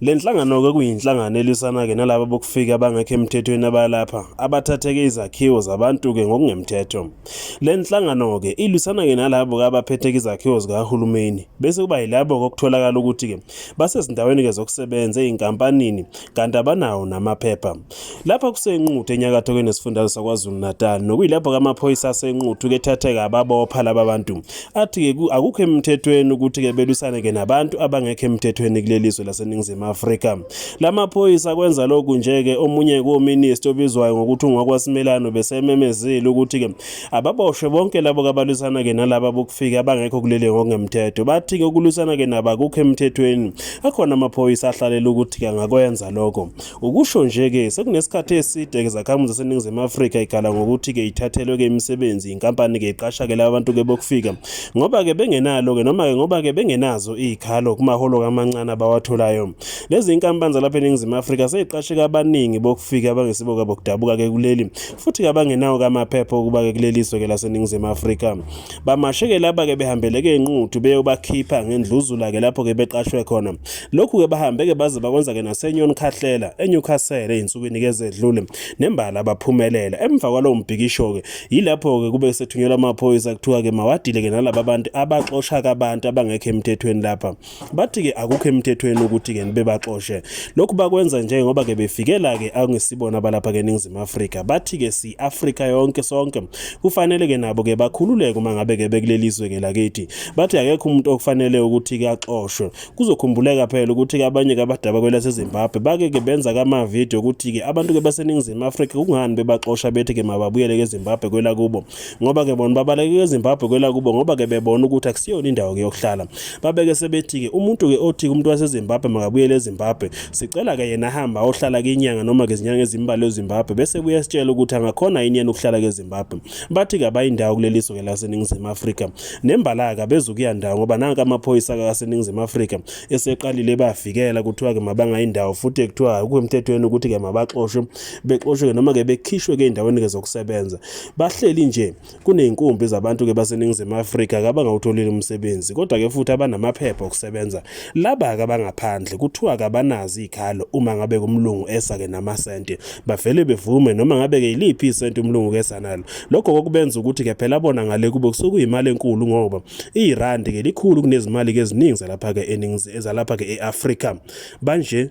Le nhlangano-ke kuyinhlangano elwisana-ke nalaba bokufika abangekho emthethweni abalapha abathatheke izakhiwo zabantu-ke ngokungemthetho. Le nhlangano-ke ilwisana-ke nalabo-ke abaphetheke izakhiwo zikahulumeni bese kuba yilabo-ke okutholakala ukuthi-ke basezindaweni-ke zokusebenza ezinkampanini kanti abanawo namaphepha. Lapha kuseNquthu enyakatho kwenesifundazwe saKwaZulu-Natal nokuyilapho kamaphoyisa aseNquthu kethatheka ababopha laba bantu athi-ke akukho emthethweni ukuthi-ke belwisane-ke nabantu abangekho emthethweni kuleli zwe laseNingizimu Afrika. La maphoyisa kwenza lokhu nje-ke omunye kominista obizwayo ngokuthi ungwakwasimelano besememezile ukuthi-ke ababoshwe bonke labo kabalwisana-ke nalaba bokufika abangekho kuleli ngokungemthetho bathi-ke ukulwisana-ke nabo akukho emthethweni akhona amaphoyisa ahlalela ukuthi-ke angakwenza lokho Ukusho nje-ke sekunesikhathi eside-ke zakhamuzi zaseNingizimu Afrika ikhala ngokuthi-ke ithathelwe-ke imisebenzi yinkampani-ke iqasha-ke laba bantu-ke bokufika ngoba-ke bengenalo-ke noma-ke ngoba-ke bengenazo iy'khalo kumaholo kamancane abawatholayo. Lezi iy'nkampani zalapha eNingizimu Afrika seyiqashe-ke abaningi bokufika abangesibo-ke bokudabuka-ke kuleli futhi-ke abangenawo-ke amaphepha okuba-ke kuleli zwe-ke laseNingizimu Afrika. Bamashe-ke laba-ke behambeleke inquthu beyobakhipha ngendluzula-ke lapho-ke beqashwe khona. Lokhu-ke bahambe-ke baze bakwenza-ke naseNyon Khahlela eNewcastle ey'nsukwini-ke ezedlule nembala baphumelela. Emva kwalowo mbhikisho-ke yilapho-ke kube sethunyelwa amaphoyisa kuthiwa-ke mawadile-ke nalaba bantu abaxosha-ke abantu abangekho emthethweni lapha. bathi ke akukho emthethweni ukuthi ke nibebaxoshe lokhu bakwenza nje ngoba ke befikela ke angesibona balapha ke ningizimu Afrika bathi ke si Afrika yonke sonke kufanele ke nabo ke bakhululeke uma ngabe ke bekulelizwe ke lakithi bathi akekho umuntu okufanele ukuthi ke axoshwe kuzokhumbuleka phela ukuthi ke abanye ke abadaba kwelase Zimbabwe bake ke benza kama video ukuthi ke abantu ke baseningizimu Afrika kungani bebaxosha bethi ke mababuyele ke Zimbabwe kwela kubo ngoba ke bona babaleke ezimbabwe kwelakubo ngoba ke bebona ukuthi akusiyona indawo yokuhlala babeke sebethi-ke umuntu ke othi umuntu wasezimbabwe makabuyele ezimbabwe sicela ke yena ahamba ayohlala kinyanga noma ke izinyanga ezimbalwa ezimbabwe bese buye sitshela ukuthi angakhona yini yena ukuhlala kezimbabwe bathi ke abayindawo kuleli zwe ke laseningizimu afrika nembalaka bezukuya ndawo ngoba nanke amaphoyisa kaseningizimu afrika eseqalile bavikela kuthiwa ke mabangayindawo futhi kuthiwa akukho emthethweni ukuthi ke mabaxoshwe bexoshwe ke noma ke bekhishwe ke endaweni ke zokusebenza Bahleli nje kuney'nkumbi zabantu-ke baseNingizimu Afrika kabangawutholile umsebenzi kodwa-ke futhi abanamaphepha okusebenza laba-ke abangaphandle kuthiwa kabanazi iy'khalo uma ngabe umlungu esa-ke namasente bavele bevume noma ngabe-ke yiliphi isente umlungu kesa nalo lokho kokubenza ukuthi-ke phela bona ngale kubo kusuke kuyimali enkulu ngoba irandi-ke likhulu kunezimali-ke eziningi zalapha-ke ezalapha-ke e-afrika banje